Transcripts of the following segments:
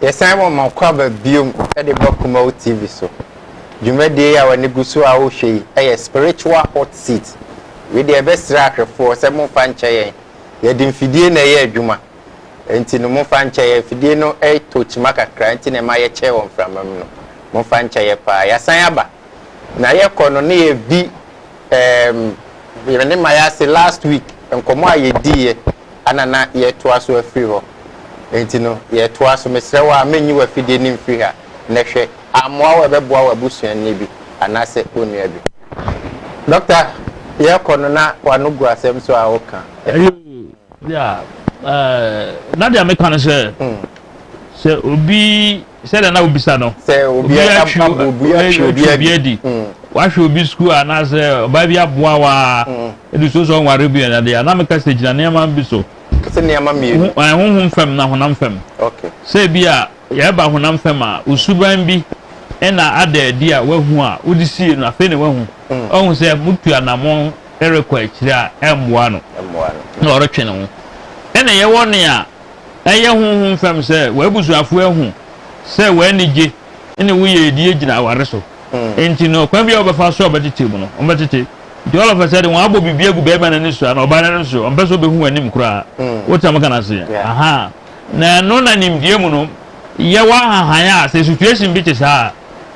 Yɛsan wɔ Makwaba bio de ba Kumau TV so. Dwumadie yi a w'ani gu so a wohwɛ yi yɛ Spiritual Hot Seat. Wei deɛ yɛbɛsrɛ ahwɛfoɔ sɛ momfa nkyɛ yɛn. Yɛde mfidie na ɛyɛ adwuma nti no momfa nkyɛ yɛn. Mfidie no tɔ kyima kakra nti na ɛma yɛkyɛ wɔ mframa mu no. Momfa nkyɛ yɛn paa. Yɛasan aba. Na yɛkɔ no na yɛdi Ehm me ne Maya ase last week nkɔmmɔ a yɛdiiɛ ana na yɛretoa so afiri hɔ enti no yɛretoa so mesrɛ wo a mɛnyi w'afidie no mfiri ha nnɛ hwɛ ammoa wo a ɛbɛboa w'abusuani bi anaasɛ wo nua bi. Doctor yɛrekɔ no na w'ano gu asɛm so a woka. Eyoo yeah eh na deɛ meka ne sɛ sɛ obi Sɛ dɛn na wobisa no? Sɛ obi atwi obi adi, wahwɛ obi sukuu anaasɛ ɔbaa bi aboa wa ɛde so sɛ ɔnware bi ɛna deɛ na meka sɛ gyina nneɛma bi so. Sɛ nneɛma mmienu. Honhom fam na honam fam. Okay. Sɛ bi a yɛreba honam fam a osuban bi ɛna ada adi a wahu a wode sie no afei na wahu. Ɔhu mm. sɛ mutu anammɔn ɛrekɔ akyire a ɛmmoa no. Ɛmmoa no. Na ɔretwe ne ho. Ɛna yɛwɔ ne a ɛyɛ honhom fam sɛ w'abusuafo ahu sɛ w'anigye ne wo yiedie gyina aware so. Enti no, ɔkwan biara a wɔbɛfa so a wɔbɛtete mu no, wɔbɛtete. Enti all of a sudden, wɔabɔ biribi agu barima no ani so anaa ɔbaa no ani so, ɔmpɛ sɛ ɔbɛhu w'anim koraa. Wote deɛ meka no aseɛ? Aha. Na ɛno na nimdeɛ mu no, yɛwɔ ahahan a sɛ situation bi te saa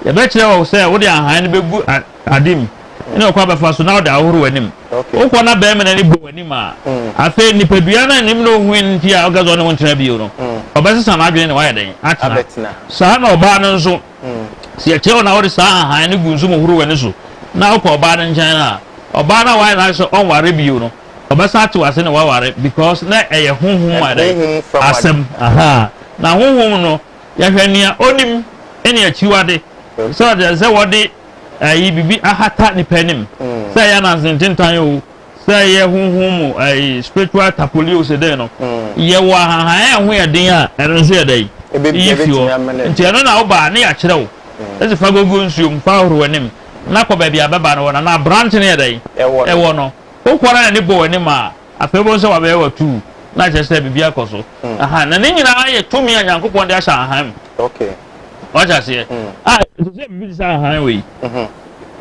a, yɛbɛkyerɛ wo sɛ wode ahahan no bɛgu Ade mu, ɛne ɔkwan bɛfa so na ɔde ahohoro w'anim. Wokɔ na bɛmena no bɔ w'anim a, afei nipadua no a anim na ohui no nti a ɔka sɛ ɔne wo ntena bio no, ɔbɛsesa n'adwene na wayɛ dɛn? Atena. Saa na ɔbaa no nso, sɛ yɛkyerɛ wo na wode saa ahan no gu nsu mu horo w'ani so na wokɔ ɔbaa no nkyɛn a, ɔbaa no a wayɛ n'adwene sɛ ɔnware bio no, ɔbɛsan atew ase na waware because na ɛyɛ honhom mu ade, asɛm. Ahaa. Na honhom no, yɛhwɛ nea onim ne akyiwade. Sɛ ɔde sɛ wɔde. ɛyi biribi ahata nipa anim sɛ ɛyɛ ananse ntentan o sɛ ɛyɛ honhom mu ɛyi spiritual tapoli o sɛ dɛn no yɛwɔ ahahan a ɛho yɛ den a ɛno nso yɛ dɛn yi fi hɔ nti ɛno na woba ne yɛakyerɛ wo ɛsɛ fa gogo nsuom fa horo w'anim na kɔ baabi a bɛba no wɔ na na aberante no yɛ dɛn ɛwɔ no wokɔ na n'ani bɔ w'anim a afei wobɛhu sɛ wabɛyɛ w'atuu na kyerɛ sɛ biribi akɔ so aha na ne nyinaa yɛ tumi a nyankopɔn de ahyɛ ahan mu wate aseɛ mm. a ah, ɛsɛ sɛ biribi te sɛ ahan wei mhm.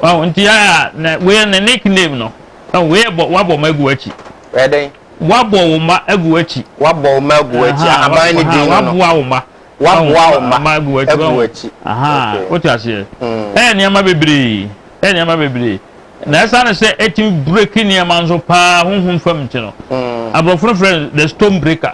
wawo nti a na wei ne ne claim no ah, wei bɔ wabɔ ma agu akyi ɛdɛn wabɔ wo ma agu akyi wabɔ wo ma agu akyi ahaban ne din no waboa wo ma waboa wo ma agu akyi aha wote aseɛ mm. ɛyɛ nneɛma bebree ɛyɛ nneɛma bebree na ɛsan sɛ ɛtumi break nneɛma nso paa honhom fam nti no mm. aborɔfo no frɛ the stone breaker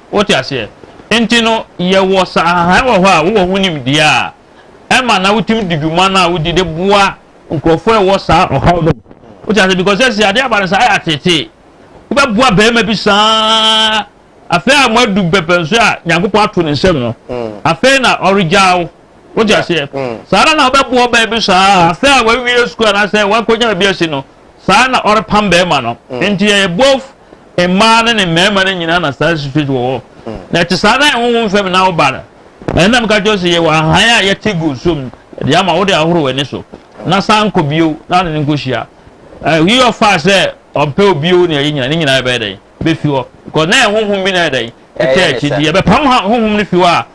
Wote aseɛ? Nti no, yɛwɔ saa hann wɔ hɔ a wowɔ ho nimdeɛ a, ɛma na wotumi di dwuma no a wodi de boa nkurɔfoɔ a ɛwɔ saa ɔhaw no mu. Wote aseɛ? Because sɛsi adeɛ aba no saa ayɛ ateetee. Wobɛboa barima bi saa, afei a moadu mpɛpɛnso a Nyankopɔn ato ne nsam no, afei na ɔregyaa wo. Wote aseɛ? Saa ara na wobɛboa ɔbaa bi saa, afei a wawie sukuu anaasɛ wakɔnya baabi asi no, saa na ɔrepam barima no. Nti ɛyɛ both mmaa ne ne mmarima no nyinaa na saa situation wɔ hɔ na ɛte saa na ɛhohom fam na woba no ɛna meka kyerɛ sɛ yɛwɔ ahan a yɛte gu so mu de ama wode ahoro w'ani so na san kɔ bio na ne nkɔhyia ɛyi ɔfa sɛ ɔmpɛ obio ne ɛyi nyina ne nyinaa ɛbɛyɛ dɛn bɛfi hɔ kɔ na ɛhohom bi na ɛdɛn ɛtɛ akyi deɛ bɛpam honhom no fi hɔ a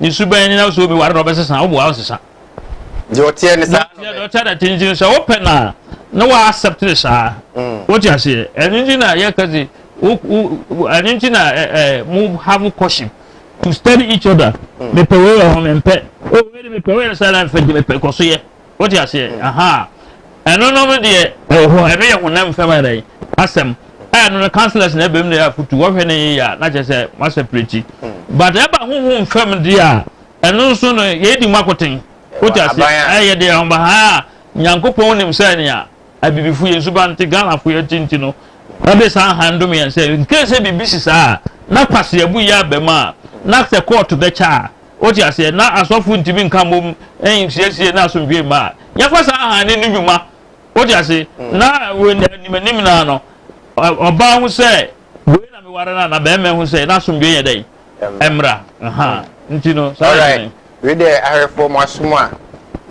Ne su bɛn ne na sɛ obi ware na ɔbɛsesa wo boa ɔsesa. Deɛ ɔteɛ ne saa. Deɛ deɛ ɔteɛ na te nti sɛ wopɛ na na wa accept ne saa. Mm. Wote aseɛ ɛno nti na yɛka se ɛno nti na mo have caution to study each other. Mm. Mepɛ wei wɔ ho mempɛ. O oh, wei de mepɛ wei yɛ saa na mfɛ de mepɛ kɔ so yɛ. Wote aseɛ? Mm. Aha. Ɛno no no deɛ ɛwɔ hɔ ɛno yɛ honam fam ara yi asɛm. Ɛno no councillors na ɛbɛm na yɛ afutu wɔhwɛ ne yɛ a na kyerɛ sɛ masɛ pireti. Mm. But ɛba honhom fam deɛ a ɛno nso no yɛdi mu akoten. Wote aseɛ? Ɛyɛ deɛ ɔmba ha a nyankopɔn nim sɛ nea abibifo yɛn nsuba nte ghanafo yɛ tinti no ɔde saa han dom yɛn sɛ nkee sɛ biribi si saa na kwaseabu yɛ abam a na sɛ kɔɔto bɛkyɛ a Wote aseɛ? Na asɔfo ntumi nka mmom nsiesie na asomdwoe mma a. Yɛmfa saa hann no nnwuma. Wote ase? Na anim anim no ara no, ɔbaa hu sɛ, Wei na meware no anaa? Barima hu sɛ, na asomdwoe nyɛ dɛn? Mmra. Ɛha. Nti no, saa na ɛte. Wei deɛ, awerɛfoɔ, mo asom a,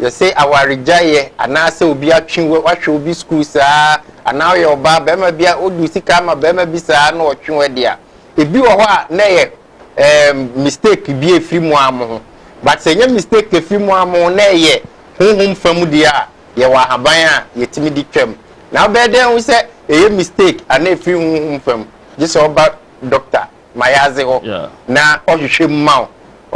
yɛse awaregyaeɛ, anaasɛ obi atwe wo, wahwɛ wo bi sukuu saa, anaa woyɛ ɔbaa, barima bi a, wode wo sika ama barima bi saa na ɔtwe wo de a, ebi wɔ hɔ a, na ɛyɛ eh, mistake bi efiri mu a mo ho but sɛ ɛnyɛ mistake efiri mu a mo ho na ɛyɛ honhom fam deɛ a yɛwɔ ahaban a yɛtumi de twam na wobɛyɛ dɛn ho sɛ ɛyɛ mistake ana efiri honhom fam gye sɛ ɔba doctor ma yɛadze hɔ na ɔhwehwɛ mu ma wo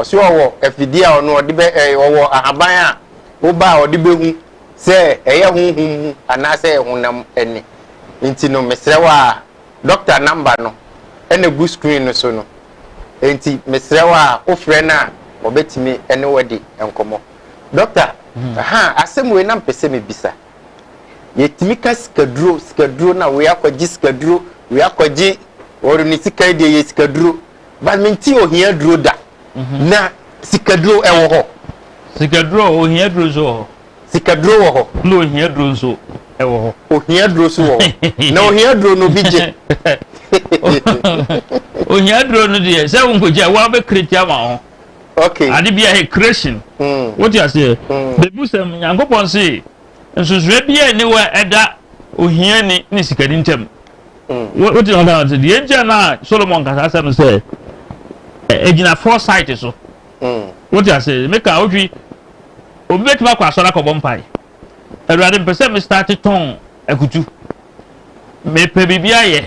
ɔsɛ ɔwɔ afidie a ɔno ɔde bɛ eh, ɔwɔ ahaban a woba a ɔde bɛhu sɛ ɛyɛ honhom mu anaasɛ ɛyɛ honam ani nti no mesrɛ wo a doctor number no na egu screen no so no, enti mesrɛ wo a wofrɛ no a wɔbɛtumi ne wo adi nkɔmmɔ. Doctor, aha, asɛm wei na mepɛ sɛ mebisa. Yɛtumi ka sikaduro, sikaduro na wei akɔgye sikaduro, wei akɔgye wɔre ne sika yi deɛ yɛ sikaduro. But mente ohia duro da. Na sikaduro ɛwɔ hɔ? Sikaduro, ohia duro nso wɔ hɔ. Sikaduro wɔ hɔ. Na ohia duro nso wɔ hɔ. Ohia duro nso wɔ hɔ. Na ohia duro no bi gye. Ohia duro no deɛ sɛ wo nkogya wo abɛkreti ama ho. Okay. Ade bi a creation. Mm. Wote aseɛ. Mm. Bebu sɛm Nyankopɔn se nsusuɛ bi a ne wɔ ɛda ohia ni ne sikani ntam. Mm. Wote ɔda ɔte deɛ nkyɛn na Solomon kasa asɛm sɛ ɛgyina foresight so. Wote ase? Meka wo hwi. Obi betumi akɔ asɔre akɔbɔ mpae. Awurade, mepɛ sɛ me starte tɔn akutu. Mepɛ biribi ayɛ.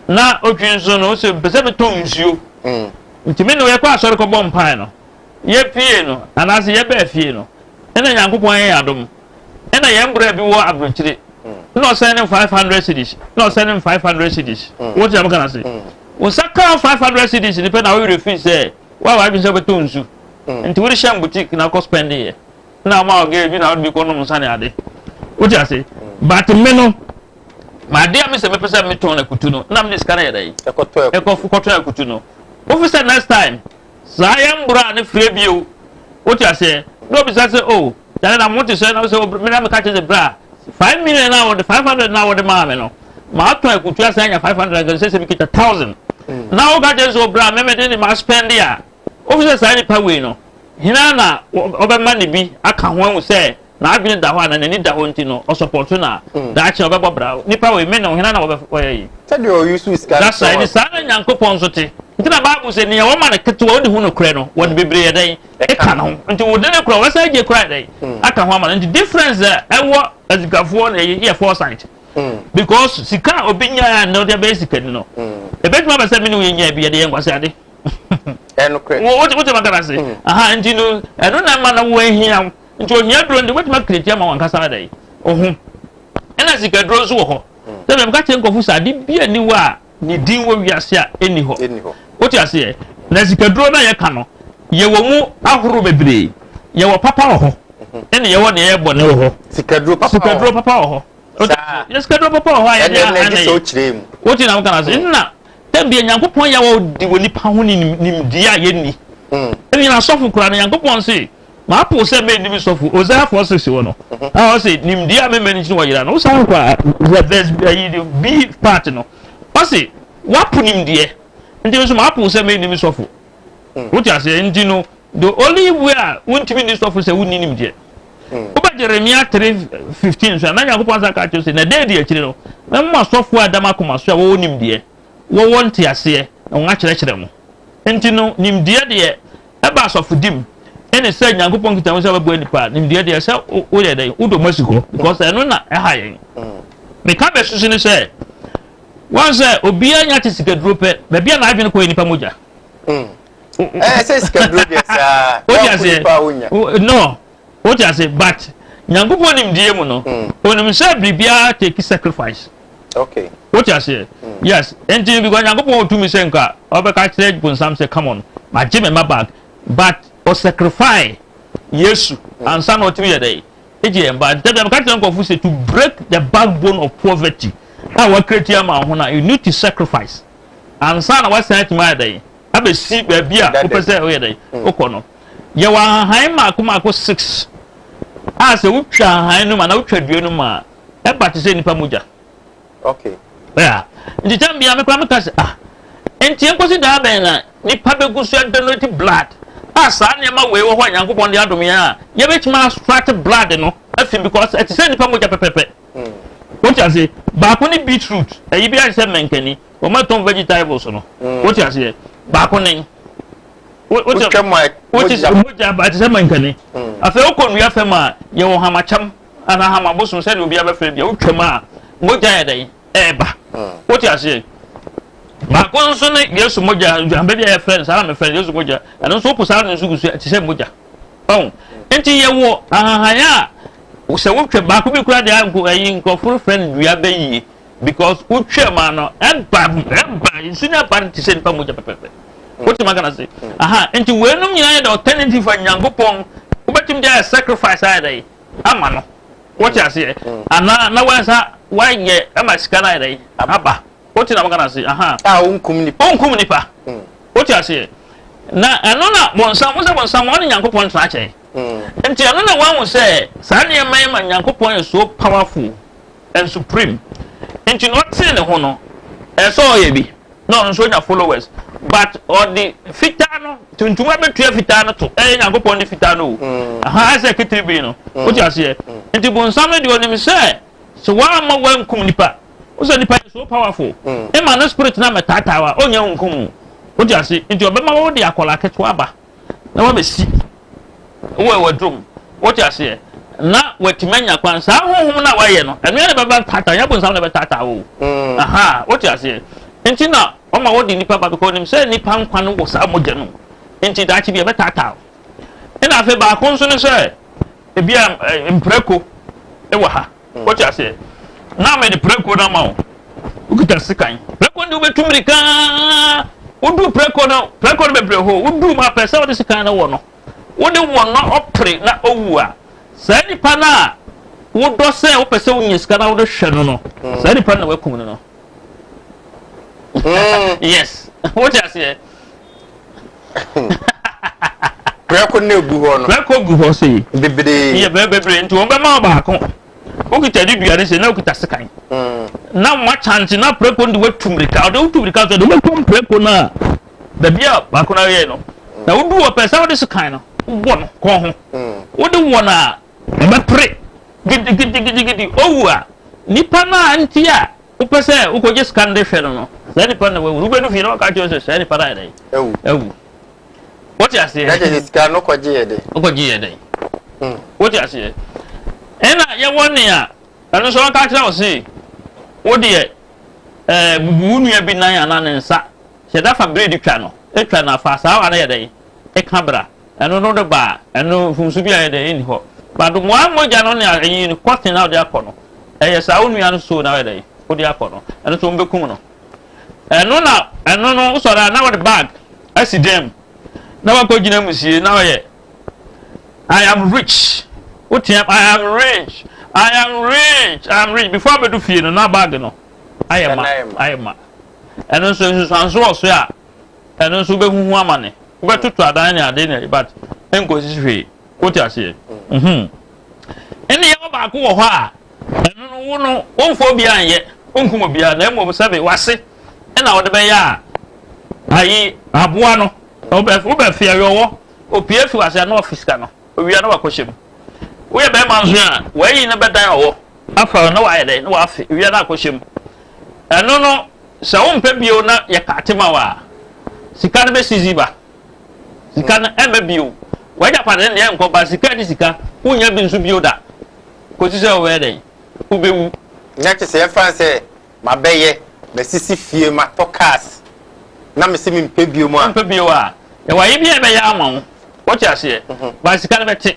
Na otwi nso no, ose mepɛ sɛ metɔn nsuo. Nti me ne wo yɛkɔ asɔre kɔbɔ mpae no. Yɛpie no, anaasɛ yɛbaa fie no, ɛna Nyankopɔn ayɛ yɛn adom. Ɛna yɛn bra bi wɔ aburokyire. Na ɔsɛn ne five hundred cedis. Na ɔsɛn ne five hundred cedis. Wote na meka no ase? Wo nsa kaa five hundred cedis ne pɛ na wo werɛ firi sɛ Woayɛ w'adwene sɛ wobɛtɔ nsu, nti wode hyɛ boutique na kɔ spend yɛ. Na ama wo girl bi na wode bi kɔ nom nsa ne ade. Wote ase? But me no, m'adeɛ a me sɛ mepɛ sɛ metɔn na kutu no, na mede sika no yɛ dɛ. Ɛkɔtɔ kɔtɔn akutu no. Wofi sɛ next time, saa yɛn mboro a ne frɛ bio. Wote aseɛ? Na obisa sɛ, oh, Dɛn na mote sɛ na wosɛ wo me na meka kyerɛ sɛ bra five million na wɔde five hundred na wɔde maa me no maatɔ akutu asa anya five hundred nka sɛ sɛ mekita thousand mm. na woka kyerɛ sɛ ɔbra me mede ne maspɛnde a wofi sɛ saa nipa wei no hena na ɔbɛma ne bi aka ho ahu sɛ n'adwene da hɔ a na n'ani da hɔ nti no ɔsɔpɔto na mm. daakye ɔbɛbɔ bra nipa wei me ne hena na wɔbɛyɛ yi sɛdeɛ ɔyusu sika dasa ɛne saa na nyankopɔn nso te nti na baabu sɛ nea wɔma no ketewa wode hu nokorɛ no wɔde bebree yɛ dɛn ɛka no ho nti wode no kora wɔsan gye kora dɛ aka ho ama no nti difference a ɛwɔ asikafoɔ na ɛyɛ yɛ foresight because sika a obi nyaa na ɔde abɛyɛ sika ni no ebetumi abɛ sɛ mi ni wo yɛ nyaa bi yɛ de yɛ nkwasi ade wote ma kana se aha nti no ɛno na ɛma na wo ahia wo nti ohia duro nti wobɛtumi akiriti ama wankasa dɛ oho ɛna sika duro nso wɔ hɔ sɛ bɛm ka kyerɛ nkɔfo sɛ ade bi aniwa a Ne din wɔ wiase a ɛnni hɔ. Wote aseɛ? Na sikaduro no a yɛka no, yɛwɔ mu ahorow bebree. Yɛwɔ papa wɔ hɔ, ɛna yɛwɔ deɛ ɛyɛ bɔne wɔ hɔ. Sikaduro papa wɔ hɔ. Sikaduro papa wɔ hɔ. Yɛ sikaduro papa wɔ hɔ a yɛde a ɛna yɛ. Wote na woka no ase. Nna tɛbia Nyankopɔn yɛ wɔ de wɔ nipa ho nimdeɛ a yɛnni. Ɛna yɛn asɔfo koraa no Nyankopɔn se. Mapow sɛ menni me sɔfo Hosea four six wɔ no a ɔse nimdeɛ a mema no nti na wɔyera no wosan kɔ a verse ayi B part no ɔse wapo nimdeɛ nti nso mapow sɛ menni me sɔfo wote aseɛ nti no the only way a wontumi nni sɔfo sɛ wonni nimdeɛ wobɛ Jeremia three fifteen nso a na Nyankopɔn san ka kyerɛ sɛ na dɛ di akyire no mɛma masɔfo a ɛda m'akoma so a wɔwɔ nimdeɛ wɔwɔ nteaseɛ na wɔn akyerɛkyerɛ mo nti no nimdeɛ deɛ Ɛba asɔfodi mu ɛne sɛ Nyankopɔn nkitaho sɛ bɛboa nipa a, nimdeɛ deɛ sɛ woyɛ dɛn wodɔ mu asi hɔ because ɛno na ɛha yɛn. Meka bɛsusu ne sɛ wɔn sɛ obiara nya te sikaduro pɛ baabi a n'adwene kɔ yɛ nipa mogya. Ɛsɛ sikaduro deɛ saa. Wodi aseɛ no wodi aseɛ but Nyankopɔn nimdeɛ mu no onim sɛ biribiara take sacrifice. Okay. Wote aseɛ? Mm. Yes. Nti because Nyankopɔn wɔ tumi sɛ nka ɔbɛka kyerɛ bonsam sɛ come on, magye me mma back. But o sacrifice Yesu mm. ansa na ɔtumi yɛ dɛ. Egye yɛn ba. Nti tɛbi ameka kyerɛ nkurɔfo sɛ to break the backbone of poverty a wakireti ama ho na you need to sacrifice. Ansa na wasan atumi ayɛ dɛ. Abɛsi baabi a wopɛ sɛ ɔyɛ dɛ. Wokɔ no. Yɛwɔ ahahan mmaako mmaako six a sɛ wotwa ahahan no mu anaa wotwa dua no mu a ɛba te sɛ nipa mogya. Okay. Yeah. Nti tɛm bia me kora me ka se ah. Nti enkosi daa bɛn na nipa begu so donate blood. A saa nneɛma wei wɔ hɔ a Nyankopɔn de adom yɛn a yɛbɛtumi astrate blood no afi because ɛte sɛ nipa mogya pɛpɛpɛ. Hmm. Wote ase baako ne beetroot ɛyi bi ayɛ sɛ mɛnkani wɔn atɔn vegetables no. Hmm. Wote aseɛ baako ne wotwa mu a wotwa mu a ɛte sɛ mankani afei wokɔ nnua fam a yɛwɔ hamakyam Anaham abosom sɛdeɛ obiara bɛfrɛ bia wotwam a mogya yɛ dɛn ɛɛba wote aseɛ baako nso ne yesu mogya aduanbɛ bi a yɛfrɛ no saa na mefrɛ no yesu mogya ɛno nso wopo saa no nso gu so ɛte sɛ mogya ɔn nti yɛwɔ ahahan a sɛ wotwa baako bi kura deɛ nko ɛyi nkurɔfo no frɛ no dua bɛyie because wotwa mu ano ɛba ɛba nsi na ɛba no te sɛ nipa mogya pɛpɛpɛ wotumi aka na se aha nti wɔnum nyinaa yɛ dɛ alternative fa nyankopɔn wobɛtumi de ayɛ sacrifice ayɛ dɛ ama no wote aseɛ anaa na wansa wayɛ ɛma sika no ayɛ dɛ aba wote na maka na se aha a wonkum nipa wonkum nipa wote aseɛ na ɛno na bɔnsam wo sɛ bɔnsam ɔne nyankopɔn ntena akyɛn nti ɛno na wahu sɛ saa nneɛma yi ma nyankopɔn yɛ so powerful nso pirim. Nti na ɔtee ne ho no ɛsɛ ɔyɛ bi na ɔno nso ɔnya followers but ɔde fitaa no tuntum abɛtua fitaa no to ɛyɛ nyankopɔn de fitaa no o mm. aha ɛsɛ kitiri bi no mm. wote aseɛ mm. nti bonsam no deɛ ɔnim sɛ sɛ woamma woankum nipa wo sɛ nipa yɛ so powerful ɛma no spirit no amɛtaataa wa ɔnya nkum wote ase nti ɔbɛma wo de akɔla ketewa ba na wabɛsi wo wɔ w'adwom wote aseɛ na watumi anya kwan saa honhom no a wayɛ no ɛno yɛ na bɛba tata nyɛ bonsam na bɛtata wo mm. aha wote aseɛ nti na ɔma wɔde nipa ba because nim sɛ nipa nkwa no wɔ saa mogya no nti daakye bi ɛbɛtata wo ɛna afei baako nso no sɛ ebi a mprako ɛwɔ ha Wote aseɛ? Na mede prɛko no ama wo. Wokita sekan. Prɛko de wobɛtu mmirika. Wodu prɛko no, prɛko no bebree hɔ. Wodu mu apɛ sɛ wode sekan no wɔ no. Wode wɔ no ɔpere na owu a, saa nipa no a wodɔ sɛ wopɛ sɛ wonya sika na wode hwɛ no no, hmm. saa nipa no na wakum no no. Hmm. Yes. Wote aseɛ? prɛko na egu hɔ no. prɛko gu hɔ sei. bebree. yɛ bɛɛ bebree nti wɔn bɛma ɔbaako wokita de dua ne sɛ na wokita sekan. Hmm. na wɔn akyante na prɛko de watu mirika ɔde wotu mirika so de wobɛkɔ prɛko no a baabi a baako no ayɛ no na wodu wɔ pɛ sɛ wode sekan no wobɔ no kɔn ho hmm. wode wɔ no a Wɔbɛpere gidigidigidi. Owu a, nipa no a nti a wopɛ sɛ wokɔgye sika no de hwɛ no no, saa nipa no na wawu. Wobɛdu fie na wɔka kyerɛ wo sɛ saa nipa no ayɛ dɛn? Awu. Awu. Wote aseɛ? Na kyerɛ sɛ sika no kɔgyeeɛ dɛn? Wokɔgyeeɛ dɛn? Hmm. Wote aseɛ? Ɛna yɛwɔ nea ɛno nso wɔka kyerɛ wo se wo deɛ ɛɛ bubu wo nua bi nan anaa ne nsa hyɛ da fa biredi twa no atwa no afa saa wa no yɛ dɛn? Ɛka bra. Ɛno no de ba a, ɛno mfomso bi a ɛyɛ dɛ? Ɛnni hɔ. But wɔn mogya no ne ayi no, cotton a wɔde akɔ no, ɛyɛ saa wo nua no soo na woyɛ dɛ? Wode akɔ no. Ɛno nso wɔbɛkum no. Ɛno na ɛno no wosɔre a na wɔde bag asi dan mu na wakɔgyina mu sie na ɔyɛ I am rich. Woteam I am rich. I am rich. I am rich. Before abɛdu fie no na bag no ayɛ ma ayɛ ma. Ɛno nso nsusuanso wɔ so a Ɛno nso wobɛhuhu amane. Wobɛtoto adan ne ade ne but ɛnkɔsisi hwee. Wote aseɛ? Mhm. Nneɛma baako wɔ hɔ a ɛno no wo no womfa obiara nyɛ, wonkum obiara na mmom sɛbe w'ase na wode bɛyɛ a ayi aboa no wobɛ wobɛfe awɛwɔ opue fi w'ase a na wafe sika no owia na wakɔhyɛ mu. Woyɛ bɛrima nso a w'ayi no bɛdan ɔwɔ afa na wayɛ dɛn na wafe owia no akɔhyɛ mu. Ɛno no Sɛ wompɛ bio na yɛkate ma wo a, sika no bɛsi dzi ba. Sika no ɛmma bio. W'agyapade no deɛ ɛnkɔ ba. Sika ne sika. Wonnya bi nso bio da kɔsi sɛ wobɛyɛ dɛn? Wobɛwu. Nyɛ te sɛ ɛmfa no sɛ mabɛyɛ, masisi fie, matɔ cars na mese mempɛ bio mu a. Wompɛ bio a, yɛwɔ ayɛ bi a yɛbɛyɛ ama wo. Wote aseɛ? But sika no bɛte.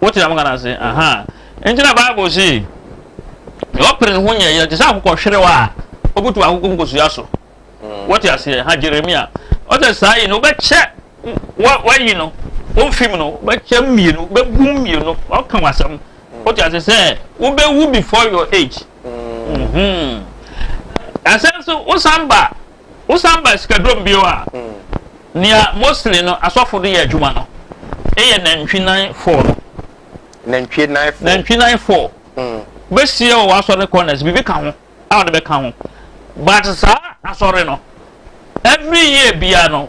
Wote dɛm nka no ase? Ahaa. Enti na Bible se, Nea ɔpere ne ho nyɛ yɛ te sɛ akokɔhwerew a obutuw akoko nkosua so. Wote aseɛ? Ha Jeremia. Ɔsɛ saa yi no, wobɛkyɛ wo wayi no wo mfem no, wobɛkyɛ mmienu, wobɛbu mmienu, ɔka wo asɛm. Wote aseɛ sɛ wobɛwu before your age. Ɛsɛ nso wosan ba. Wosan ba Asikadrom bio a, nea mostly no asɔfo de yɛ adwuma no yɛ nantwi nan four no. Nantwie nan four. Nantwi nan four. Wobɛsie wɔ w'asɔre no corners, biribi ka ho a wode bɛka ho. But saa asɔre no, every year biara no,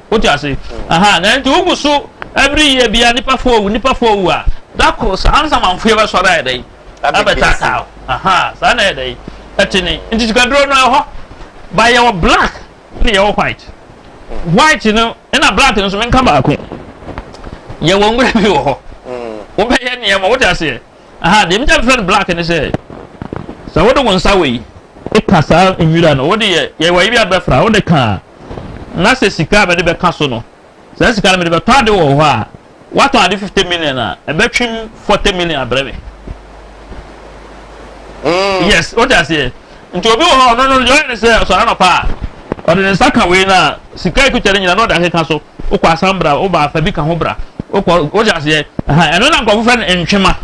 Wote ase? Aha, na nti wogu so ɛbere yie bia nipa fo owu nipa fo owu a da koro saa ansa manfo yɛ bɛsɔre ayɛ dɛ abɛtaataa o. Aha, saa na ɛyɛ dɛ ɛte ne nti sikaduro no ɛhɔ ba yɛ wɔ black ne yɛ wɔ white white no ɛna black no nso menka baako yɛ wɔ nwura bi wɔ hɔ wobɛyɛ nneɛma wote aseɛ Aha, deɛ megyina mefrɛ no black ne sɛ, sɛ wode wo nsa wei ka saa nwira no, wode yɛ yɛwɔ yi bi a bɛfra, wode ka a, na sɛ sika a mede bɛka so no, saa sika no mede bɛtɔ ade wɔ hɔ a, watɔn ade fifty million a, ɛbɛtwem forty million abrɛ me. Mm. Yes, wote aseɛ. Nti obi wɔ hɔ a ɔno no deɛ ɔyɛ ne sɛ ɔsɔre anɔpa a ɔde ne nsa ka wei no a sika ekuta ne nyina na ɔde akeka so wokɔ asan bra woba afa bi ka ho bra wokɔ wogye aseɛ ɛha ɛno na nkɔfo fɛ no ntwema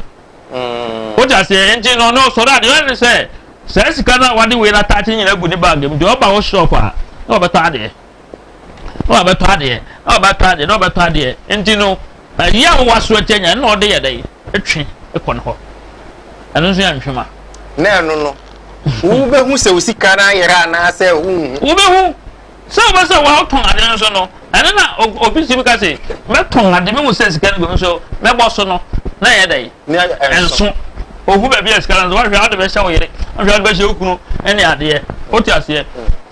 mm. wogye aseɛ nti na ɔno ɔsɔre a deɛ ɔyɛ ne sɛ saa sika no a wade wei no ataakye nyina gu ne bag mu deɛ ɔba wo shop a na ɔbɛtɔ adeɛ na wabɛtɔ adeɛ na wabɛtɔ adeɛ na wabɛtɔ adeɛ nti no ayi a wɔwɔ aso atia nya na ɔde yɛ dɛ ɛtwe ɛkɔ ne hɔ ɛno nso yɛ nhwema. na ɛno no wobɛhu sɛ osika no ayera anaasɛ wonhu. wobɛhu sɛ wobɛ sɛ wɔtɔn ade no so no ɛno na obi si bi ka se mɛtɔn ade mehu sɛ sika no bɛmu so mɛbɔ so no na ɛyɛ dɛ ɛnso ohu baabi a sika no so wahwɛ ade bɛhyɛ wo yere wahwɛ ade bɛhyɛ wo kunu ne adeɛ wote aseɛ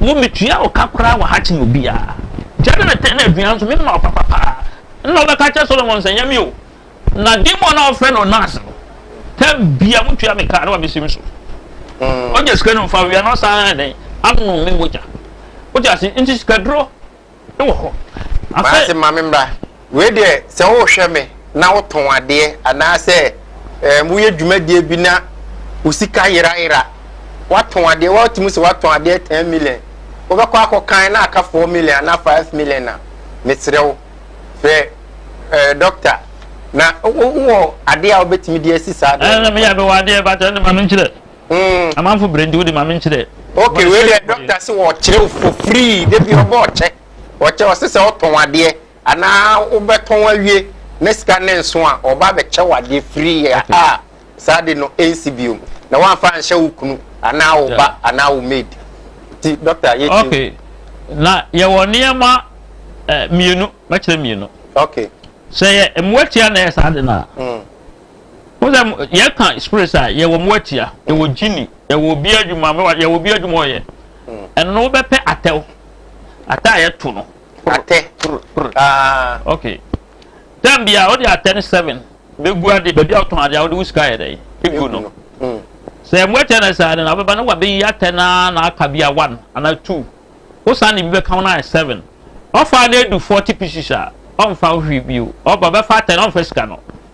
Wo metua wo ka koraa wɔ ha kyen obiaa gya ne ne tɛ ne aduan nso me ma wo papa paa nna ɔbɛka akyerɛ Solomon sɛ nyɛ me o na demon na ɔfrɛ no nurse no tɛ bia mo tua me ka ne wa me sim so ɔgya sika no mfa wia na ɔsan dɛn anom me mogya wogya se nti sika duro wɔ hɔ. Afei. Maase ma me mmra. Wei deɛ sɛ wohwɛ me na wotɔn adeɛ anaasɛ ɛɛm woyɛ dwumadie bi na wo sika yerayera, watɔn adeɛ watumi sɛ watɔn adeɛ ten million, wobɛkɔ akɔkan na aka four million anaa five million a, mesrɛ wo frɛ ɛɛ dɔkta na wowɔ adeɛ a wobɛtumi de asi saa adeɛ no. Ɛɛ na meyɛ mewɔ adeɛ but ɛnde ma menkyerɛ. Mm. Amanfo brɛ nti wode ma me nkyerɛ. Okay, wei deɛ dɔkta se wɔkyerɛ for free de bi ɔbɔ ɔkyɛ. Ɔkyɛ ɔse sɛ ɔtɔn adeɛ anaa wobɛtɔn awie na sika ne nso a ɔba bɛkyɛ wo adeɛ free a ah, saa de no ɛnsi biom na woamfa anhyɛ wo kunu anaa wo ba anaa wo maid nti dɔkta yɛtie okay. na yɛwɔ nneɛma eh, mmienu mɛkyerɛ mmienu okay. sɛ yɛ mmoatia na ɛyɛ saa de no a mm. Wohu sɛ yɛka spirits a, yɛwɔ mo atia, yɛwɔ gyini, yɛwɔ obi adwuma, yɛwɔ obi adwuma ɔyɛ. Hmm. Ɛno no wobɛpɛ atɛw. Atɛ a yɛto no. Atɛ. Ah. Okay. Tɛm bia wode atɛ ne seven bɛgu ade baabi a wotɔn ade a wode wo sika yɛ dɛn ɛgu no. Hmm. Sɛ mo atia no saa no na wobɛba na wabɛyi atɛ no a na aka bia one anaa two. Wosan ne bi bɛka wo no ayɛ seven. Ɔfa no adu forty pieces a ɔmfa wo hwee bio. Ɔba bɛfa atɛ no ɔmfa sika no.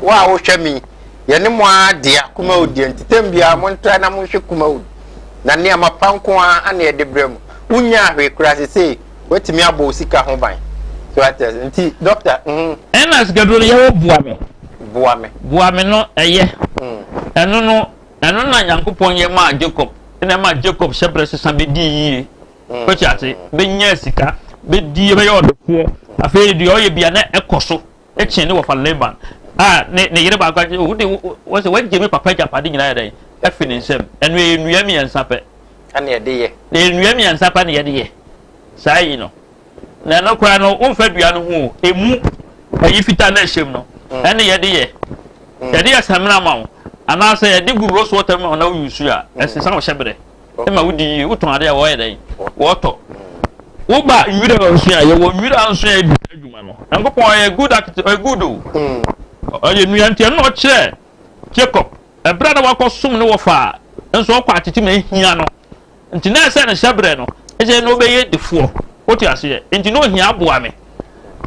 Wo a wohwɛ me yi, yɛne mo ara dea, Kumawu deɛ. Ntɛm biara montra na monhwɛ Kumawu no, na nneɛma pa nko ara na yɛde brɛ mo. Wonnyaa hwee koraa, seesei woatumi abɔ wo sika ho ban. So wate ase? Nti, dɔkta, mhm. Ɛnna sikaduro no yɛ hɔ boa me. Boa me. Boa me no yɛ. Ɛno no, ɛno na Nyankopɔn yɛ maa Jacob, ɛnna ɛma Jacob hyɛbrɛ sesa bɛdii yie. Wote ase? Bɛnyaa sika, bɛdii, bɛyɛɛ ɔdefoɔ. Afei deɛ ɔyɛ biara, na ɛkɔ so. Kyen ne wɔfa Laban a ne ne yere baako agye. Wo de wɔn sɛ wɔagye me papa agyapade nyinaa yɛ dɛn afi ne nsam. Ɛno ɛyɛ nnua mmiɛnsa pɛ. Ɛna yɛde yɛ. Ɛyɛ nnua mmiɛnsa pɛ na yɛde yɛ saa yi no. Na ɛno koraa no womfa dua no ho o. Emu ɛyi fitaa na ɛhyɛm no mm. ɛne yɛde yɛ. Mm. Yɛde yɛ samina ma wo anaasɛ yɛde gu rose water mu na woyi su a mm. ɛsesa wo hyɛ berɛ. ma wodi yie, wotɔn adeɛ a wɔyɛ dɛn? Wɔtɔ. Woba nwira a ɔsua a yɛwɔ nwira a nsua yɛ di saa adwuma no. Nyankopɔn ɔyɛ good act ɔyɛ good o. Ɔyɛ nua nti ɛno na ɔkyerɛ Jacob ɛberɛ a na wakɔsom ne wɔfa a nso ɔkɔ atete ma ahia no nti na ɛsɛ ne hyɛberɛ no ɛsɛ na ɔbɛyɛ difoɔ wote aseɛ nti na ɔhia aboa me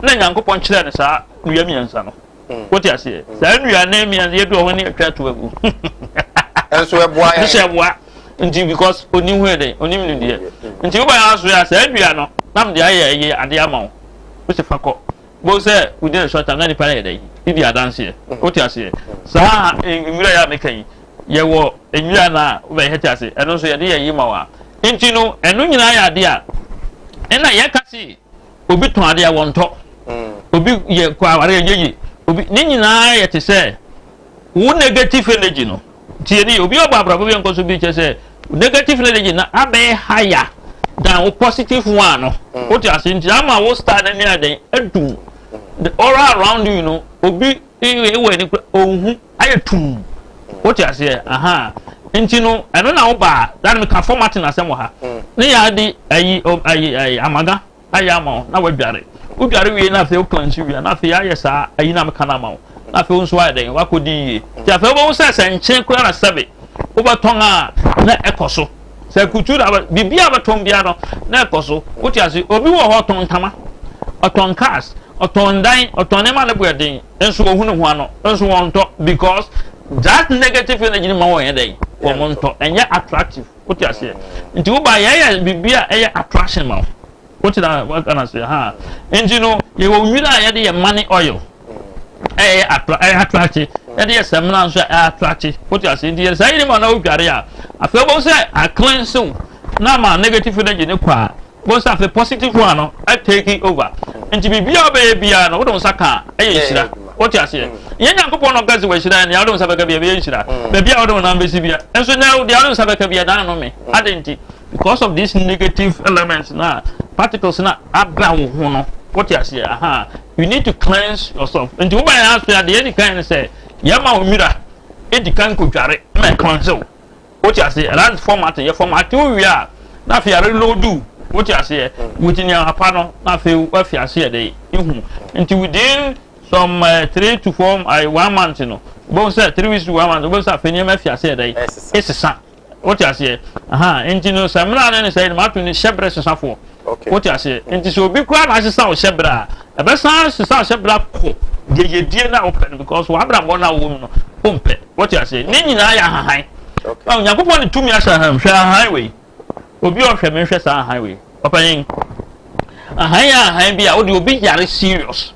na Nyankopɔn kyerɛ ne saa nua mmiɛnsa no. wote aseɛ saa nnuane mmiɛnsa yɛdu ɔho ne atwa to agu nso ɛboa yɛn nso ɛboa nti because onim hu ɛdɛ onim nim deɛ nti wo bɛyɛ aso yɛ saa dua no nam de ayɛ ɛyɛ ade ama wo wo si fa kɔ bo sɛ wodi na sɔta na nipa yɛ dɛ yi di adanseɛ wote aseɛ saa nwura yɛ a meka yi yɛwɔ nwura no a wobɛyɛ hɛte ase ɛno nso yɛde yɛ yi ma wo a nti no ɛno nyinaa yɛ ade a ɛna yɛka se obi tɔn adeɛ a wɔntɔ obi yɛ kɔ aware a yɛyi obi ne nyinaa yɛ te sɛ wo negative energy no tie ne yɛ obi ɔbɔ abrabɔ bi nkɔ so bi kyɛ sɛ negative energy na abɛyɛ higher than wo positive one no o ti ase nti ama wo star ne ne adan adum the aura around you no obi wɔ ani kura ohun. ayɛ tumm wote aseɛ ahaa nti no ɛno na wobaa dane meka formatin asɛm wɔ ha ne yɛade ayi ayi ayi amaga ayɛ ama wo na wadware wodware wie na afei wokla nsu wie na afei ayɛ saa ayi na meka no ama wo na afei wo nso ayɛ dɛn wakɔdi yie nti afei wobɛhu sɛ sɛ nkye koraa na sɛbe wobɛtɔn a na ɛkɔ so sɛ kutu na biribi a bɛtɔn biara no na ɛkɔ so wote ase obi wɔ hɔ ɔtɔn ntama ɔtɔn cars ɔtɔn dan ɔtɔn nneɛma ne boɛ den nso wɔhu ne ho ano nso wɔn ntɔ because that negative energy ni ma wɔn yɛ dɛ wɔn ntɔ ɛnyɛ attractive o ti aseɛ nti wo ba yɛ yɛ biribi a ɛyɛ attraction ma wo o ti na waka na seɛ ha nti no yɛ wɔ nwiri a yɛde yɛ money oil ɛyɛ attra ɛyɛ attractive yɛde yɛ sɛmina nso ɛyɛ attractive o ti aseɛ nti yɛ saa yiri ma na o dware a afei bɔ sɛ aklensew na ma negative energy ne kɔ a Wobɛhu sɛ afei positive one no atake over. Nti biribi a wobɛyɛ biara no, wode wo nsa ka a, ɛyɛ nhyira. Wote aseɛ? Nyɛ Nyankopɔn na ɔka sɛ wahyira yɛ, nea wode wo nsa bɛka bia ɛbɛyɛ nhyira. Baabi a wode wo nan bɛsi bia. Nso na deɛ wode wo nsa bɛka bia, na anome. Adɛn nti? Because of this negative element no a particles no ada wo ho no. Wote aseɛ? Aha. You need to cleanse yourself. Nti woba yɛn ase a, deɛ ɛdi kan ne sɛ, yɛma wo nwira ɛdi kan kɔdware ma ɛcleanse wo. Wo te aseɛ? That is formatting. Yɛ formatting wo wie a, na afei a reload wo. Wo te aseɛ? Mm. With nneɛma pa no, na afei wafi aseɛ dɛ ihu. Nti within some uh, three to four uh, one month no, wobɛhu sɛ three weeks to one month, wobɛhu sɛ afei nneɛma afi aseɛ dɛ esesa. Wo te aseɛ? Aha. Nti no sɛ mmira no ne sɛ yɛde ma ato ne hyɛ bere sesafoɔ. Wote aseɛ? Nti sɛ obi koraa na asesa wo hyɛberɛ a, ɛbɛsan asesa wo hyɛberɛ akɔ deɛ yɛdie no a wopɛ no because w'abrabɔ no a wowɔ mu no wompɛ. Wote aseɛ? Ne nyinaa yɛ ahahan. Na Onyankopɔn ne tumi ahyɛ ahan mu. Hwɛ ahan wei. Obi a ɔhwɛ me nhwɛ saa ahan wei. Ɔpanyin. Ahan yɛ ahan bi a wode obi yare serious.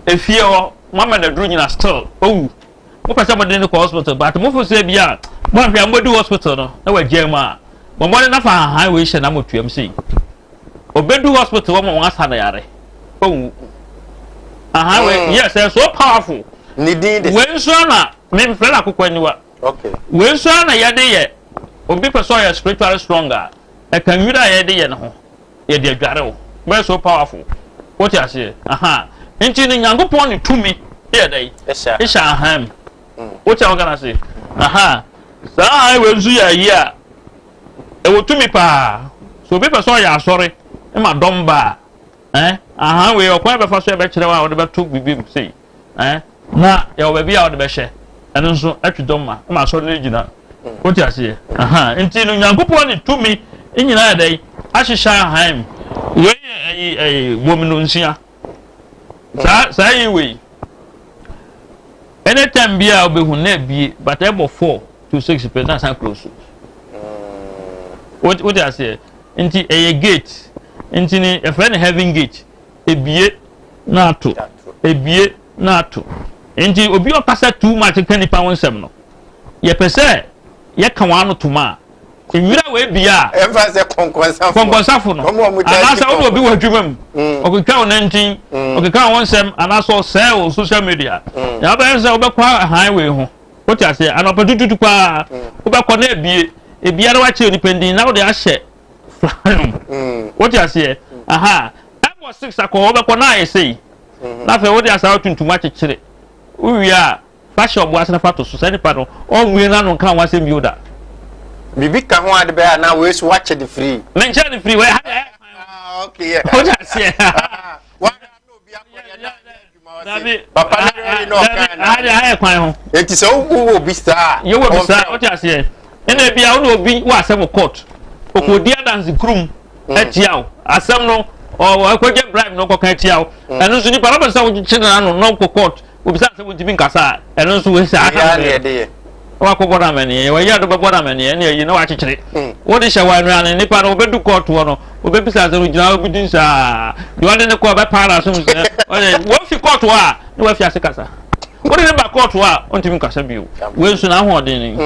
Efie hɔ, mama no aduru nyina still owu. mopɛ sɛ mode no kɔ hospital but mofo sɛ bi a moahwɛ a mobɛdu hospital no na wagyaa mu a bɔmmɔde nafa hahan wei hyɛ na motuam sei ɔbɛdu hospital wɔma wɔn asa no yare ɔwu hahan wei mm. yes ɛyɛ so powerful ne din de wei nso ana memfrɛ no akokɔ aniwa wei nso ana yɛde yɛ obi pɛ sɛ ɔyɛ spiritually strong a Ɛka nwira a yɛde yɛ no ho. Yɛde adware wo. Wobɛyɛ so powerful. Wote aseɛ? Ahaa. Nti no, Nyankopɔn de tumi yɛ dɛn? Hyɛ ahaa mu. Wote a woka no ase? Ahaa. Saa ahaa wei nso yɛ ayi a ɛwɔ tumi paa. So obi pɛ sɛ ɔyɛ asɔre ma dɔm ba a, eh, ahaa wei ɔkwan bɛfa so ɛbɛkyerɛ wo a wode bɛto biribi mu sei. Ɛɛ, na yɛwɔ baabi a wɔde bɛhyɛ ɛno nso atwi dɔm ma ma asɔre no gyina. Wote aseɛ? Aha. Nti no Nyankopɔn ne tumi nyinaa yɛ dɛn? Ahyehyɛ ahan mu. Wei yɛ ɛyi ɛyi bom no nsia. Saa saa yi wei. Ɛne tɛm bi a wobɛhu na abie but ɛbɔ four to six pɛ na san close. Wote aseɛ? Nti ɛyɛ gate. Nti ne yɛfrɛ no heaven gate. Ebue na ato, ebue na ato. Nti obi a ɔkasa too much ka nipa ho nsɛm no, yɛpɛ sɛ yɛka wɔn ano tom a, nwura wɔ ebia a. Ɛnfa sɛ kɔnkɔnsafo. Kɔnkɔnsafo no. Anaasɛ ɔne obi wɔ adwuma mu. Mm. Ɔkeka wɔn nantin, mm. ɔkeka wɔn nsɛm, anaasɛ ɔsɛɛ wɔ social media. Mm. Na ɔbɛyɛ sɛ ɔbɛkɔ ahan wei ho. Wote aseɛ, anɔpa tututu paa, wobɛkɔ na ebie, ebia na wakyerɛ nipa ndin na wode ahyɛ wote aseɛ aha ɛbɔ six akɔ wobɛkɔ na ayɛ sei hmm. na afei wode asaa tuntum akyekyere wowie a fa hyɛ ɔboa sena fa to so sɛ nipa no ɔnwie no ano nka ho asɛm bio da biribi ka ho ade bɛyɛ anaa wei so wakyɛ de firi menkyɛ de firi wei ha ah, okay, yeah. wote aseɛ dabi papa ne yɛ yi na ɔka dabi na ade ayɛ kwan ho eti sɛ wowu wɔ bi saa yɛ wɔ bi saa ɔmfrɛ ɔte aseɛ ɛna ebi a ɔna obi wɔ asɛm wɔ court ɔkɔ di adansi kurum ɛtia o asɛm no ɔwɔ ɛkɔgye bribe na ɔkɔka ɛtia o ɛno nso nipa lɔbɛ sɛ ɔkye na ano na ɔkɔ court obi sɛ asɛm ɔntumi nkasa ɛno nso wɔ saa asɛm yɛ na wakɔbɔ no amanneɛ, wɔyɛ no bɛbɔ no amanneɛ ne ayi na wakyekyere. Wode hyɛ wɔn anuanom nnipa no, wɔbɛdu kɔɔto hɔ no, wɔbɛbisa sɛ ogyina hɔ bi din saa, deɛ ɔde no kɔɔ bɛpaa no asom sɛ ɔyɛ. Wɔfi kɔɔto hɔ a, na wafi ase kasa. Wode no ba kɔɔto hɔ a, ɔntumi nkasa bio. Wei nso n'ahoɔden ni.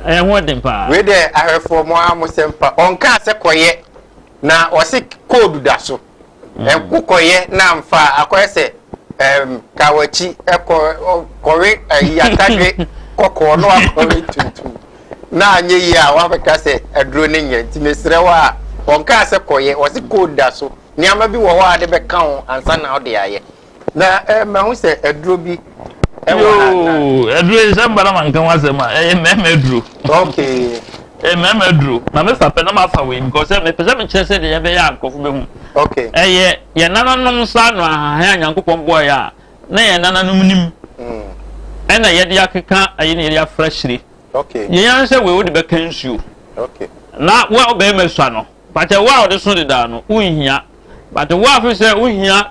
Ɛyɛ ho den paa. Wei deɛ ahwɛfoɔ mo ara mo sɛm pa. Ɔnkaa sɛ kɔyɛ, na ɔse koodu da so. Ɛko kɔyɛ na amfa a, akɔyɛ sɛ ɛɛm kawakyi ɛkɔ kɔwe ɛyi atadwe kɔkɔɔ na wakɔwe tuntum na anyɛ yie a wabɛka sɛ aduro no nyɛ nti mesrɛ wo a wɔnkaa sɛ kɔyɛ wɔse kɔda so nneɛma bi wɔ hɔ a wode bɛka ho ansa na wode ayɛ na ɛ eh, mahu sɛ aduro bi ɛwɔ ha na. yoo aduro yi sɛ mbara ma nka ho asɛm a ɛyɛ mmarima aduro. okay. ɛyɛ mmarima aduro na me fa pɛ na ma fa wei because sɛ mepɛ sɛ mekyerɛ sɛ deɛ yɛbɛyɛ a nkurɔfo bɛhu. okay. ɛyɛ yɛn nananom nsa ano ahahan a nyankopɔn bɔɔ yɛ a na yɛn nananom nim. Mm. ɛna yɛde akeka ɛyɛ na yɛde afra hyire. okay. yɛn yɛn sɛ wei wode bɛka nsuo. okay. na wo a wobɛyɛ ma sua no pàtɛ wo a wɔde so dedaa no wohia pàtɛ wo a fi sɛ wohia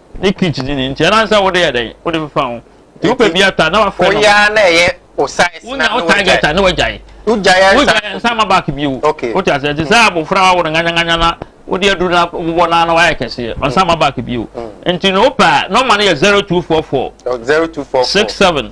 ne kit ne ne nti ɛna sɛ wode yɛ dɛn wode fefa ho nti wopɛ bi ata na wafɛ no woyɛ na ɛyɛ o size na wogyae wogyae target a na wagyae wogyae wogyae nsa ma back bio okay wote ase nti sɛ mm. abofra wa wo no nganyanganya na wode aduru na wobɔ na na wayɛ kɛseɛ mm. nsa ma back bio mm. nti na wopɛ a nɔma no yɛ zero two four four zero two four six seven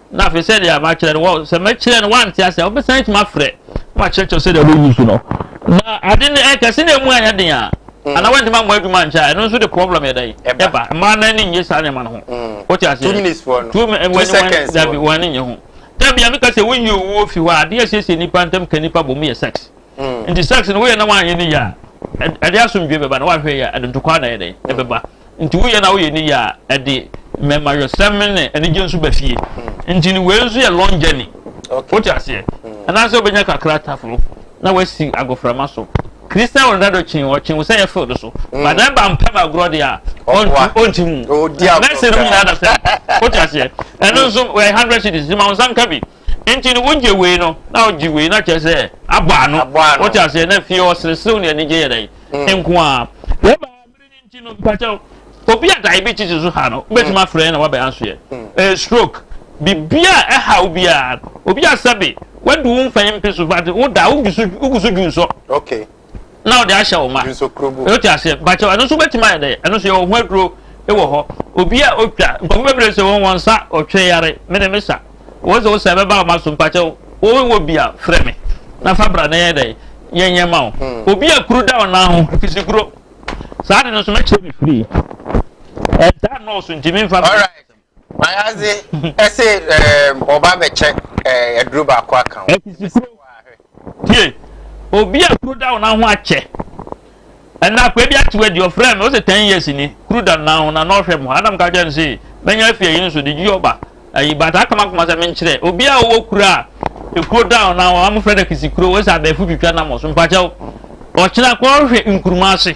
na afei sɛdeɛ makyerɛ no wɔ sɛ mɛkyerɛ no wante ase a wobɛsan atumi afrɛ na wakyerɛkyerɛ sɛdeɛ wɔyi so no na ade no ɛkɛse na ɛmu ayɛ den a mm. ana wantumi ammɔ adwuma nkyɛ a ɛno nso de problem yɛ dɛn ɛba mmaa no ani nnye saa nneɛma no ho mm. wote aseɛ dabi wɔn ani nnye ho dabi a meka sɛ woyi owuo fi hɔ a adeɛ asiesie nnipa ntam ka nnipa bɔ mu yɛ sex nti sex no woyɛ na wanyɛ ne yɛ a ɛde asomdwe bɛba na wahwɛ yɛ ɛde ntokwa na ɛdɛn ɛbɛba nti woyɛ na woyɛ ne yɛ a ɛde mmɛmayɔsɛm ne anigye nso ba fie nti ne wei nso yɛ long journey wote aseɛ anaasɛ wobɛnya kakra taforo na wasi agoframa so kristian wɔn dado kyen ɔkyen wɔ sɛ yɛ fil do so badan ba mpɛ ma agorɔ deɛ a ɔnti mu mɛsɛ no nyinaa da sɛ wote aseɛ ɛno nso wɔyɛ hundred cities ma wɔn nsa nka bi Enti no, wogye wei no, na wogye wei, na kyerɛ sɛ abɔ ano. Wote aseɛ na fie hɔ sereserew ne anigye yɛ dɛn mm. nko ara. Wɛba mmiri ne nti no, mpakyɛw, obi a diabetes so ha no, wobɛtumi mm. afrɛ na wabɛn asoɛ. Mm. Eh, stroke, biribiara a ɛha wo biara, obi a sɛbe, wadu wo mfɛn mpe so, but woda, wogu so dwu nsɔ. Okay. na ɔde ahyɛ wo ma wote aseɛ bakyɛ ɛno nso wobɛtumi ayɛ dɛ ɛno nso yɛwɔ ho aduro wɔ hɔ obi a ɔtwa nkɔfo bɛbrɛ sɛ wɔn wɔn nsa ɔtwe yare mene me sa wɔn sɛ wo sɛ ɛbɛba wo ma so mpakyɛ wowɔ bi a frɛ me na fa bra na yɛ dɛ yɛnyɛ ma wo hmm. obi a kuru da ɔnan ho fisikuro saa de no nso mɛkyerɛ me firi ɛda nɔɔso ntimi mfa Mayadze ɛsɛ ɛɛ ɔba bɛkyɛ ɛɛ aduro baako aka ho. Ɛsisi kuro tie obi a kuro da ɔnan ho akyɛ ɛnna akɔ ebi akyew adi ɔfrɛ mi ɔsɛ ten years ni kuro da nan ho na na ɔhwɛ mu anam ka kyɛn no sɛ mɛnya afi ayi no so de gyi ɔba ayi bata akama kama sɛ menkyerɛ obi a ɔwɔ kuro a ekuro da ɔnan ho amofrɛ no akisi kuro wɔsɛ abɛɛfo twitwa nam ɔso mpakyɛw ɔkyena kɔ ɔhwɛ nkuruma ase.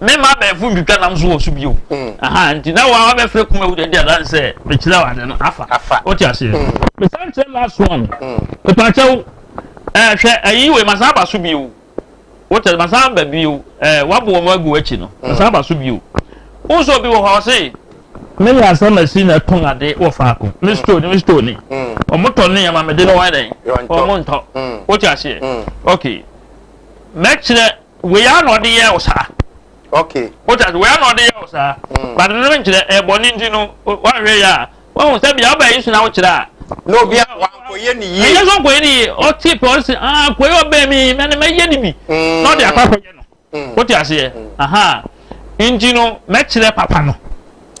Me mma abɛɛfo ntwitwa nam so wɔ so bio. Aha nti na wa wabɛfrɛ kuma wu de adan sɛ mekyerɛ ade no afa. Afa. Wote aseɛ. Mesan kyerɛ last one. Mepakyɛw ɛɛ hwɛ ayi wei masan aba so bio. Wote masan aba bio. Ɛɛ wabo wɔn agu akyi no. Masan aba so bio. Wo nso obi wɔ hɔ ɔse me yɛ asɛm asi na ɛtɔn ade wɔ faako mm. me store ni me store ni wɔn mm. tɔ ne yɛma me de no wɔn dɛn wɔn ntɔ mm. wote aseɛ ok mɛkyerɛ wei ara na ɔde yɛ wo saa okay wotɛ ase wei ara na ɔde yɛ wo saa mm. but no nkyerɛ ɛbɔ ne nti no woahwɛ yɛ a woahu sɛ bia wobɛyɛ yesu na wokyerɛ a na obi a wankɔyɛ ne yie ɛyɛ sɛ ɔnkɔyɛ ne yie ɔte pɛ ɔse ah kɔyɛ ɔbɛn mi mɛne mɛyɛ ne bi mm. na ɔde akɔ akɔyɛ no mm. wote aseɛ aha nti no mɛkyerɛ papa no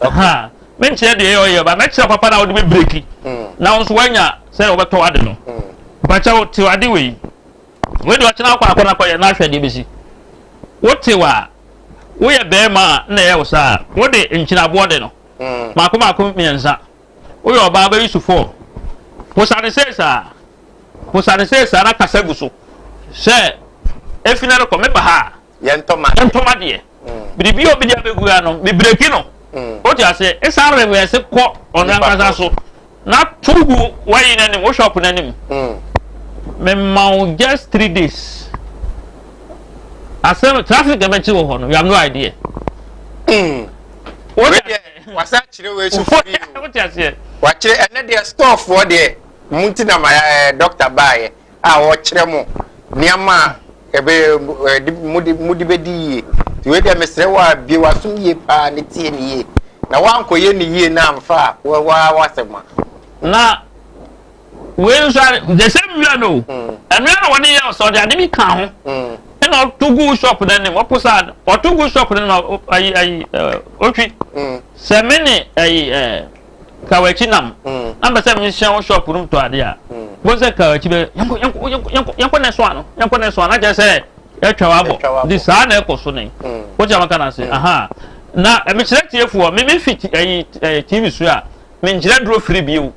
aha menkyerɛ deɛ ɛyɛ ɔyɛ ba mɛkyerɛ papa no a wode bɛbreki na wo nso woanya sɛ wobɛtɔ ade no mpakyɛ wo tew ade wei Wei deɛ ɔkyena akɔ akɔ na kɔyɛ na ahwɛ deɛ ɛbɛsi. Wotew a, woyɛ barima a na ɛyɛ wo saa. Wode nkyinaboɔ de no. Mmaako mmaako mmiɛnsa. Woyɛ ɔbaa bɛyi so four. Posa no sei saa. Posa no sei saa na kasa gu so sɛ, Efi nnɛ rekɔ meba ha a, yɛntɔma yɛntɔma deɛ biribi a obi de abɛgu ya no mebreki no wote ase ɛsan revɛse kɔ ɔno ankasa so na to gu wayi no anim wo shop no anim mema wo just three days asɛm traffic ɛbɛkye wɔ hɔ no you have no idea wasa kyerɛ wɔ akyi firi o wakyerɛ ɛnɛ deɛ stɔɔfoɔ deɛ mu nti na ma eh, dɔkta baeɛ a ɔkyerɛ mo nneɛma a ɛbɛ ɛde mode mode bɛdi yie nti wei deɛ mesrɛ wo a bie w'asom yie paa ne tie ne yie na woankɔyɛ ne yie na amfa a wɔwaa w'asɛm a na wei nso a the same wia no ɛno yɛ na wɔde yɛ ɔsɛ ɔde ade bi ka ho ɛna ɔto gu shop no anim ɔpo saa ɔto gu shop no anim ayi ayi ɔtwi sɛ me ne ayi ɛɛ Kawakyi nam. Na mpɛ sɛ menhyia wo shop no mu tɔ ade a. Bohu sɛ Kawakyi bɛ yɛnkɔ yɛnkɔ yɛnkɔ yɛnkɔ na ɛso ano yɛnkɔ na ɛso ano akyerɛ sɛ yɛatwa wabɔ. Nti saa na ɛkɔ so ne. Wokyɛ maka no ase. Aha. Na mekyerɛ tiefoɔ me mefi ɛyi ɛyi TV so a menkyerɛ duro firi bio.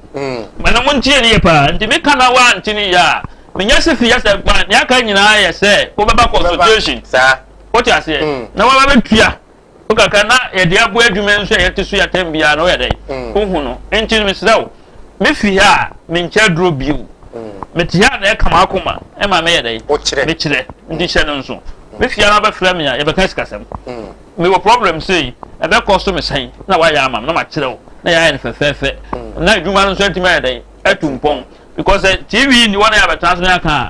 Ma na mo ntie ne yɛ paa. Nti meka na wa nti ne yɛ a menya si fi yɛ sɛ gba ne aka nyinaa yɛ sɛ wobɛba consultation. Saa. Wote aseɛ. Na wabɛtua. Wo kakra na yɛde aboa adwuma nso a yɛte so yi atɛm biara no woyɛ dɛn wohu no nti no mesrɛ wo mefi ha a menkyɛ aduro bio mete ha na ɛka m'akoma ɛma meyɛ dɛn mekyerɛ nti hyɛ no nso mefi ha na wobɛfrɛ me a yɛbɛka sikasɛm mewɔ problem sei ɛbɛkɔ so mesɛn na woayɛ ama m na makyerɛ wo na yɛayɛ no fɛfɛɛfɛ na adwuma no nso atumi ayɛ dɛn atu mpɔn because tv ni wɔn a yɛabɛtena so no yɛaka a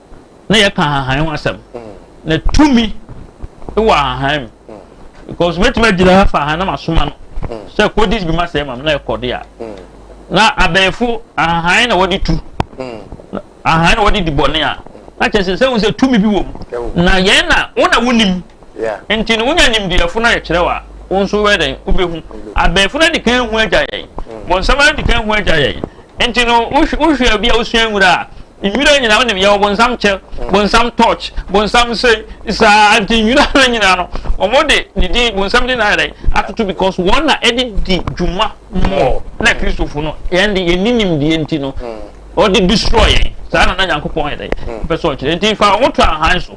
na yɛka ahahan ho asɛm na tumi wɔ ahahan mu because mɛtumi agyina ha fa ahan na masoma no sɛ kodi bi ma sɛ ma na ɛkɔde a na abɛɛfo ahahan na wɔde tu ahahan na wɔde di bɔne a na kyerɛ sɛ sɛ wo sɛ tumi bi wɔ mu na yɛn na wo na wonim nti no wonya nimdeɛfo no ayɛkyerɛ wa wo nso wɛ dɛn wobɛhu abɛɛfo no adi kan hu agya yɛn bɔnsɛm adi kan hu agya yɛn nti no wohwɛ bi a wosua nwura a Nwura nyinaa wonim yɛwɔ bonsam kyɛ bonsam torch bonsam nsɛn saa nti nwura no nyinaa no wɔn de ne din bonsam din na ayɛ dɛ atoto because wɔn na ɛde di dwuma mɔ na kristofo no yɛn de yɛn ni nimdeɛ nti no ɔde destroy yɛn saa na na nyankopɔn yɛ dɛ mpɛ sɛ ɔkyerɛ nti fa wɔn to ahan so.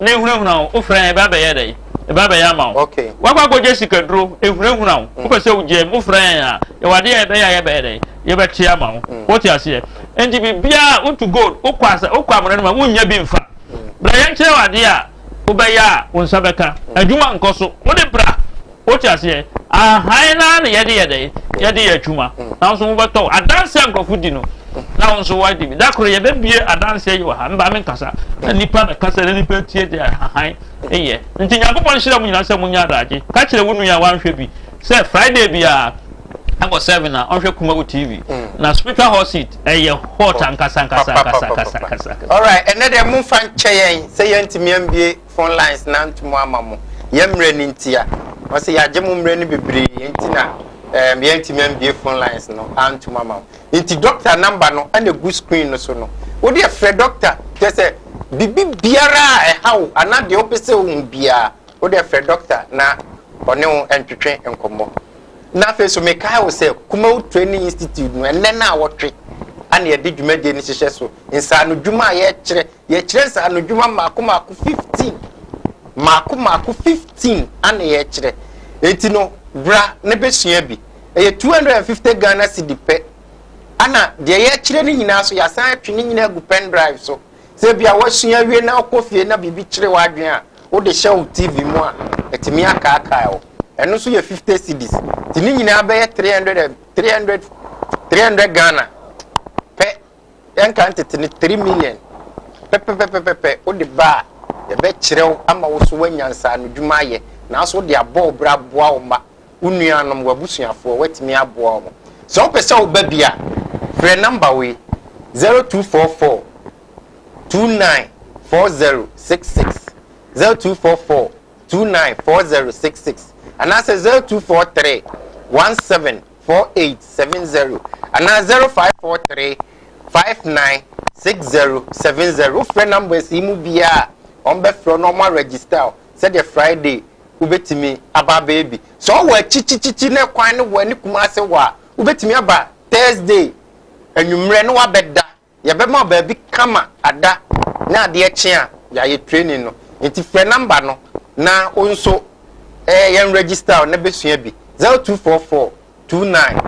Mehunahuna wo, wofrɛ a, ɛba bɛyɛ dɛn? Ɛba bɛyɛ ama wo. Okay. Wakɔ akɔgye sikaduro, ehunahuna wo. Wopɛ sɛ wogyae mu, wofrɛ yɛn a, yɛwɔ adeɛ a yɛbɛyɛ a yɛbɛyɛ dɛn? Yɛbɛte ama wo. Wote aseɛ? Enti biribiara, wotu gold, wokɔ asa, wokɔ amena no ma, wonnya bi mfa. Bra yɛnkyerɛ wo adeɛ a wobɛyɛ a wo nsa bɛka. Adwuma nkɔ so. Wode bra. Wote aseɛ? Ahan no ara na yɛde yɛ dɛn? Yɛde yɛ adwuma. Na wo nso wobɛtɔ wo. Adanseɛ a nkurɔfo di no, na wo nso woadi bi. Da koro yɛbɛbie adanseɛ yi wɔ ha. Mma menkasa. Na nnipa na kasa na nnipa tie deɛ ahan yɛ. Nti Nyankopɔn nhyira mo nyinaa sɛ monyɛ adagye. Ka kyerɛ wo nua a wanhwɛ bi sɛ Friday biara ɛwɔ seven a ɔnhwɛ Kumawu TV. Na spiritual hot seat ɛyɛ hot ankasa ankasa ankasa ankasa ankasa. Alright, ɛnɛ deɛ momfa nkyɛ yɛn sɛ yɛntumi ambie. phone lines no antum ama mo yɛn mmerɛ no nti a ɔsɛ yɛagye mo mmerɛ no bebree nti na um, yɛntumi ambie phone lines no antum ama mo nti doctor number no ɛna egu screen no so no wode ɛfrɛ doctor kyɛ sɛ biribi biara a ɛha wo anaa deɛ wopɛ sɛ wohu biara wode ɛfrɛ doctor na ɔne wo ntwetwe nkɔmmɔ na afei so mekae wo sɛ Kumawu Training Institute no ɛnɛ no a wɔtwe ana yɛde dwumadie no hyehyɛ so nsaano dwuma a yɛkyerɛ Yɛkyerɛ nsaanodwuma mmaako mmaako fifteen. Mmaako mmaako fifteen ana yɛkyerɛ. Enti no, bra na bɛsua bi. Ɛyɛ two hundred and fifty Ghana cedi pɛ. Ana deɛ yɛkyerɛ no nyinaa nso, yɛasan atwe ne nyinaa agu pen drive so. Sɛ ebia woasua awie na wokɔ fie na biribi kyere w'adwene a, wode hyɛ wo TV mu a, ɛtumi akaakae wo. Ɛno nso yɛ fifty cedis. Nti ne nyinaa bɛyɛ three hundred and three hundred three hundred Ghana pɛ Yɛnka ntete no three million pɛpɛpɛpɛpɛ wode ba a, yɛbɛkyerɛ wo ama wo so woanya nsaano dwuma ayɛ. Nanso wode abɔ wo bra aboa wo mma, wo nuanom, w'abusuafoɔ, woatumi aboa wɔn. Sɛ wopɛ sɛ woba bi a, frɛ number wei, zero two four four two nine four zero six six, zero two four four two nine four zero six six, anaasɛ zero two four three one seven four eight seven zero anaa zero five four three five nine six zero seven zero wofrɛ numbers yi mu biara a wɔn bɛfrɛ na wɔn aregister o sɛdeɛ friday wobɛtumi aba abɛyɛ bi sɛ ɔwɔ akyikyikyi na kwan no wɔ ne kumase wɔ a wobɛtumi aba thursday anwummerɛ na wabɛda Yɛbɛma baabi kama ada na adeɛ kye a yɛayɛ training no. Nti frɛ number no na wo nso yɛn register wo na bɛsua bi. 0244 29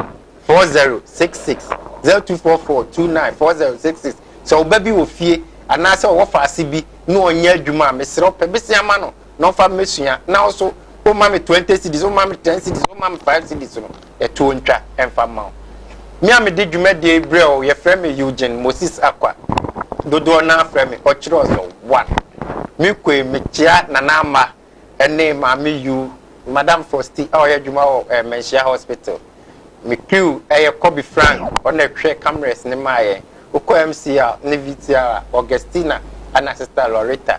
4066, 0244 29 4066. Sɛ wo ba bi wɔ fie anaasɛ ɔwɔ faase bi na ɔnyɛ adwuma a, mesrɛ wo pɛ bisia ma no na ɔmfa mmɛsua. Na wo nso womma me 20 cedis, womma me 10 cedis, womma me 5 cedis no. ɛtoɔ ntwa mfa mma wo. Me a mede dwumadie yi brɛ wo, yɛfrɛ me Eugene Moses Akwa. Dodoɔ no ara frɛ me Ɔkyerɛɔsɔ One. Me koe mekyea Nana Ama ne Maame Yu, Madam Fosti a ɔyɛ adwuma wɔ eh, Manhyia Hospital. Me crew ɛyɛ Kobe Frank, ɔna ɛhwɛ cameras no maa yɛn. Wokɔ MCR ne VCR a, Augustina ɛna Sister Loretta.